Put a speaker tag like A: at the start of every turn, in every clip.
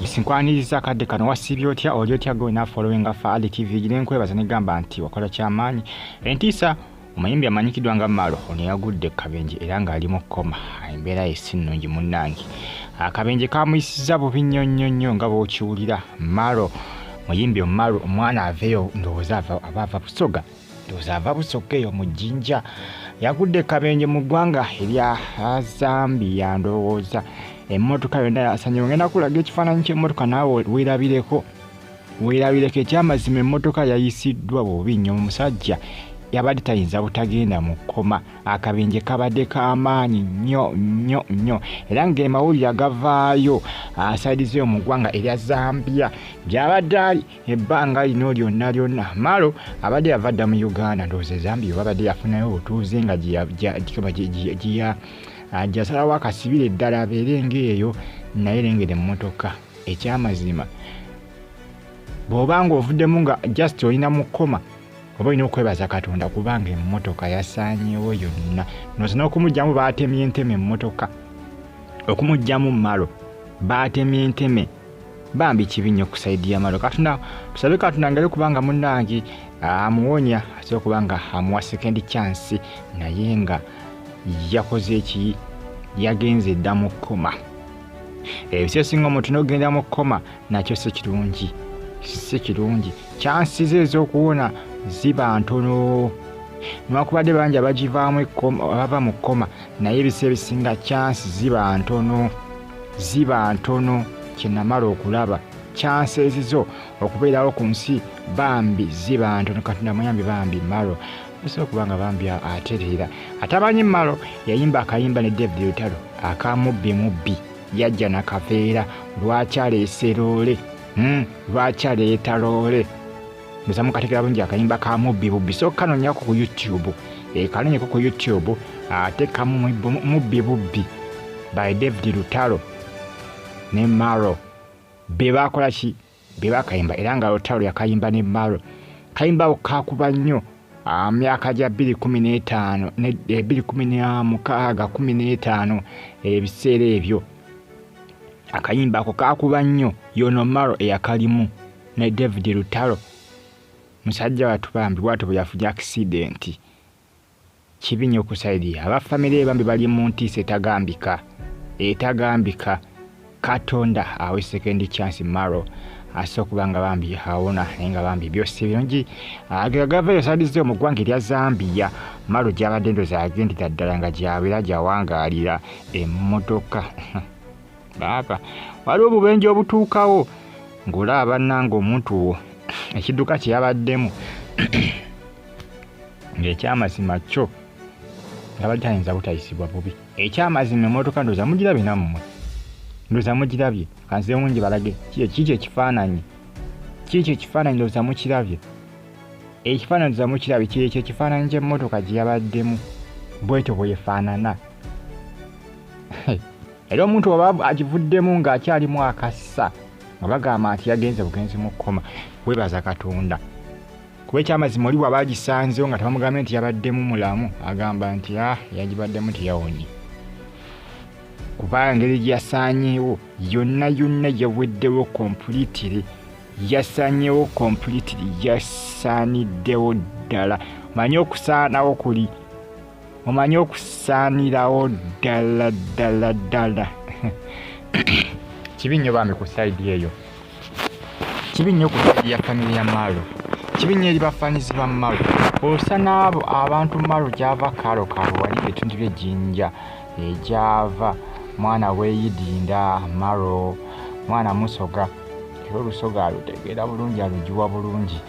A: nsinkwaniriza akadde kano wasiibye otya oli otya gwe na following afa ali tv gire nkwebaza negamba nti wakola kyamaanyi entiisa omuyimbi amanyikidwa nga malo ono yagudde kabenje era ng'ali mu kkoma embeera ye si nnungi munnange akabenje kamuyisiza bubi nnyo nnyo nnyo nga bw'okiwulira malo muyimbi omalo omwana aveyo ndowooza aba ava busoga ndowooza ava busokka eyo mu jjinja yagudde kabenje mu ggwanga erya zambia ndowooza emmotoka yonna yasanyiwa ngenda kulaga ekifaananyi ky'emmotoka naawe weerabireko weerabireko ekyamazima emmotoka yayisiddwa bubi nnyo omusajja yabadde tayinza butagenda mu kkoma akabenje kabadde k'amaanyi nnyo nnyo nnyo era ng'emawulire agavaayo asaidizeyo mu ggwanga erya zambia gy'abadde ali ebbanga lino lyonna lyonna maalo abadde yava dda mu uganda ndowooza ezambi obabadde yafunayo obutuuze nga gyasalawo akasibire eddala abeere ngaeyo naye lengera emmotoka ekyamazima bw'oba nga ovuddemu nga just olina mukoma oba olina okwebaza katonda kubanga emmotoka yasaanyewo yonna noza n'okumugyamu baatemye enteme emmotoka okumugyamu malo baatemye enteme bambi kibi nnyo kusaidiya malo katonda tusabe katonda ngayo kubanga munange amuwonya asobola okuba nga amuwa second chance naye nga yakoze eki yagenze dda mu kkoma ebisi esinga omuntu nogenda mu kkoma nakyo si kirungi si kirungi chansi ze ez'okuwona ziba ntono newakubadde bangi abagivaamu abava mu kkoma naye ebisi ebisinga chansi ziba ntono ziba ntono kyenamala okulaba chansi ezizo okubeerawo ku nsi bambi ziba ntono katonda muyambi bambi maro musobola okuba nga bambi atereera atamanyi maro yayimba akayimba ne david lutalo akamubbi mubbi yajja nakaveera lwaki aleese loole hmm, lwaki aleeta loole nza mukategera bungi akayimba ka mubbi bubbi so kanonyako ku youtube e, kanonyeko ku youtube ate kamu mubbi bubbi by david lutalo ne maro bebakola ki bebakayimba era nga lutalo yakayimba ne maro kayimba ako kakuba nnyo myaka gya 215 215 ebiseera ebyo akayimba ako kakuba nnyo yonomaro eyakalimu naye david lutalo musajja watu bambi bwatyo bweyafuja akisidenti kibi nyo kusaidia abafamire bambi bali mu ntiisa etagambika etagambika katonda awe sekendi chance maro asa okuba nga bambi awona naye nga bambi byosi birungi agegava eyo sadize mu ggwanga erya zambia maro gyabadde endozi agendera ddala nga gyabeera gyawangaalira emmotoka baaba waliwo obubenje obutuukawo ng'olaba bannanga omuntu wo ekidduka kye yabaddemu ng'ekyamazima kyo yabadde ayinza butayisibwa bubi ekyamazima emmotoka ndoza mugirabye nammwe ndoza mugirabye kanzewungi balage kiikyo ekifaananyi kiikyo ekifaananyi ndoza mukirabye ekifaananyi ndoza mukirabye kyekyo ekifaananyi ky'emmotoka gye yabaddemu bwetyo bwefaanana era omuntu waba agivuddemu ng'akyalimu akassa nga bagamba nti yagenze bugenzi mu kkoma webaza katonda kuba ekyamazima oli bwaba agisanzewo nga tebamugambye nti yabaddemu mulamu agamba nti a ah, yagibaddemu teyawonye kuba engeri gyeyasaanyeewo yonna yonna yaweddewo kompulitire yasanyewo completely yasaniddewo ddala manye okusaanawo kuli omanyi okusaanirawo ddala ddala ddala kibi nnyo bambi ku saidi eyo kibi nnyo ku saidi ya famire ya maalo kibi nnyo eri bafaanizi ba maalo osa n'abo abantu maalo gyava kaalo kaalo wali ebitundu by'ejjinja egyava mwana weyidinda maro mwana musoga era olusoga alutegeera bulungi alugiwa bulungi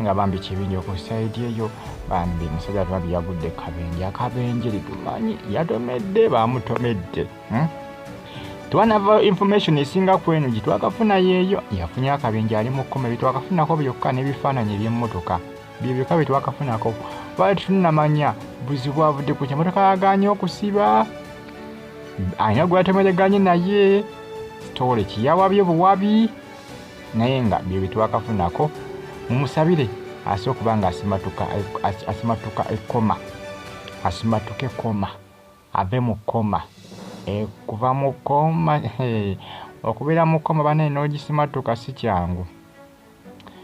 A: nga bambi kibinja okusaidi eyo bambi musajja tubabi yagudde kabenje akabenje litumanyi yatomedde bamutomedde hmm? twanava information esinga kweno gyetwakafuna yeeyo yafunye akabenje ali mu kkoma byetwakafunako byokka n'ebifaananyi ebyemmotoka bye byokka byetwakafunako twali tetunamanya buzibu avudde ku kyemotoka yaganye okusiba alina gweyatomedeganye naye story kiyawabye buwabi naye nga byo byetwakafunako mumusabire ase okuba nga asimatuka asimatuka ekoma asimatuke koma ave mu koma e, kuva mu koma okubeera mu koma banaye n'ogisimatuka si kyangu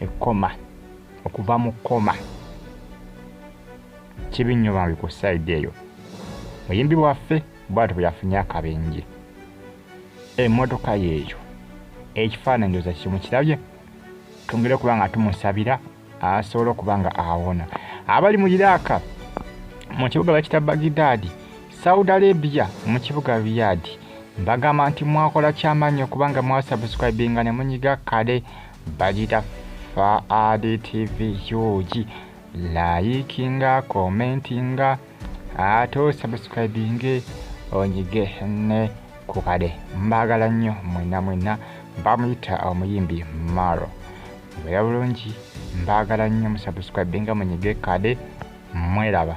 A: ekkoma okuva mu kkoma kibi nnyo bambi ku sayidi eyo muyimbi waffe bwati bwe yafunye akabenje emmotoka yeeyo ekifaananyi oza kimu kirabye twongere okuba nga tumusabira asobola okuba nga awona abali mu iraaka mu kibuga bakita bagidaadi saudi arabia mu kibuga riyadi mbagamba nti mwakola kyamaanyi okubanga mwasubscribinga ne munyiga kale Bagita Faadi TV Huge. Layikinga, komentinga, ate osubscribinge onyige ne ku kade. Mbagala nnyo mwena mwena. Bamuyita omuyimbi Maro. Mbeera bulungi, mbagala nnyo musubscribinga munyige kade. Mweraba.